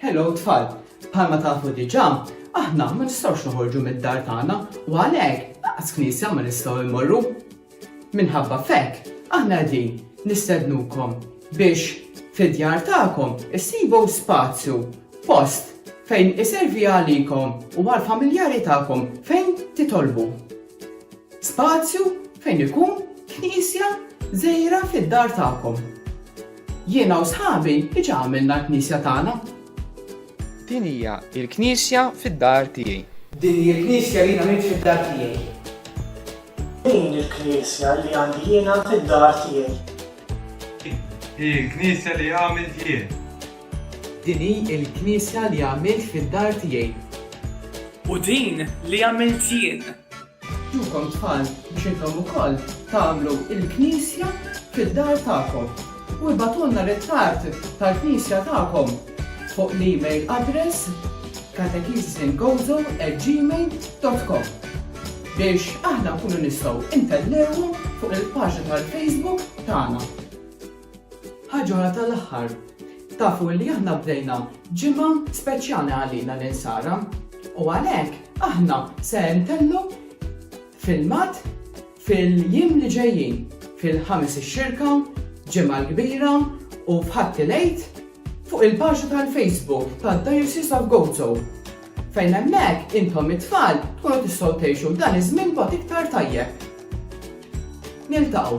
Hello tfal, bħalma tafu diġà, aħna ma nistgħux noħorġu mid-dar tagħna u għalhekk laqas knisja ma nistgħu immorru. Minħabba fekk, aħna qegħdin nistednukom biex fid-djar tagħkom issibu spazju post fejn iservi għalikom u għal-familjari tagħkom fejn titolbu. Spazju fejn ikun knisja żgħira fid-dar tagħkom. Jiena u sħabi diġà għamilna l-knisja tagħna. Din hija l-knisja fid-dar tiegħi. Din hi l-knisja li jiena għamilt fid-dar tiegħi. Din hi l-knisja li għandi jiena fid-dar tiegħi. Din hi l-knisja li għamilt jien. Din hi l-knisja li għamilt fid-dar tiegħi. U din li għamilt jien. Ġukom tfal biex intom ukoll tagħmlu l-knisja fid-dar tagħkom. U ibagħtulna ritratt tal-knisja tagħkom fuq l-email address katechesisandgozo@gmail.com biex aħna nkunu nistgħu ntellewhom fuq il-paġna tal-Facebook tagħna. Ħaġa oħra tal-aħħar, tafu li aħna bdejna ġimgħa speċjali għalina l-insara u għalhekk aħna se ntellu filmat fil-jiem li ġejjin fil-ħames ix-xirka, ġimgħa l-kbira u f'ħatti lejt fuq il-paġa tal-Facebook tad-Diocese of Gozo fejn hemmhekk intom it-tfal tkunu tistgħu tgħixu dan iż-żmien bot iktar tajjeb. Niltaqgħu.